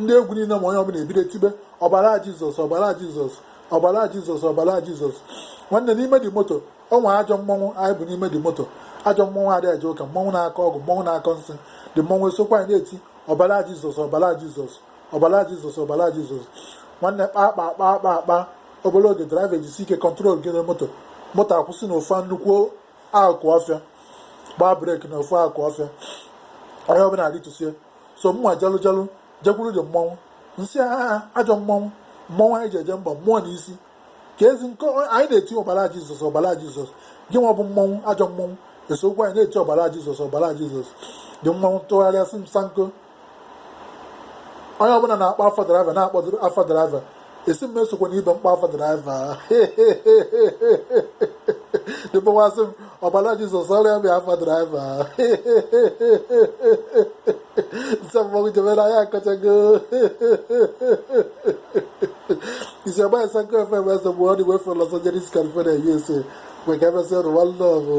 ndị egwu niile ma onye ọbụla ebido tibe ọbara jizọs ọbara jizọs ọbara jizọs ọbara jizọs nwanne n'ime dị moto ọ nwere ajọ mmọnwụ anyị bu n'ime dị moto ajọ mmọnwụ adịghị eje ụka mmọnwụ na-akọ ọgwụ mmọnwụ na-akọ nsị dị mmọnwụ esokwa anyị na-eti ọbara jizọs ọbara jizọs ọbara jizọs ọbara jizọs nwanne kpaa kpaa kpaa kpaa kpaa obere oge draiva ejisi ike kọntrol gị na moto moto akwụsị na ofu nnukwu akụ ọfịa gbaa breki na ofu akụ ọfịa onye ọbụla arịtusie so mma jalụjalụ jekwuru dị mmọnwụ m sị ahaa ajọ mmọnwụ mmọnwụ anyị ji eje mba mmụọ na isi ka ezi nke anyị na-eti ọbara jizọs ọbara jizọs gị nwa bụ mmọnwụ ajọ mmọnwụ esokwu anyị na-eti ọbara jizọs ọbara jizọs dị mmọnwụ tụgharịa sị m sanko onye ọbụla na-akpọ afa draiva na-akpọ afa draiva ị sị m esokwana ibe m kpọ afa draiva dịbawasị m ọbara jizọs ọrịa bịa afa draiva nsọ mmọnwụ jebere anya akọchago isi agba esa nke efe ebe eze mgbe ọ dị wefe Los Angeles California USA maka emesịa ụwa nlọgụ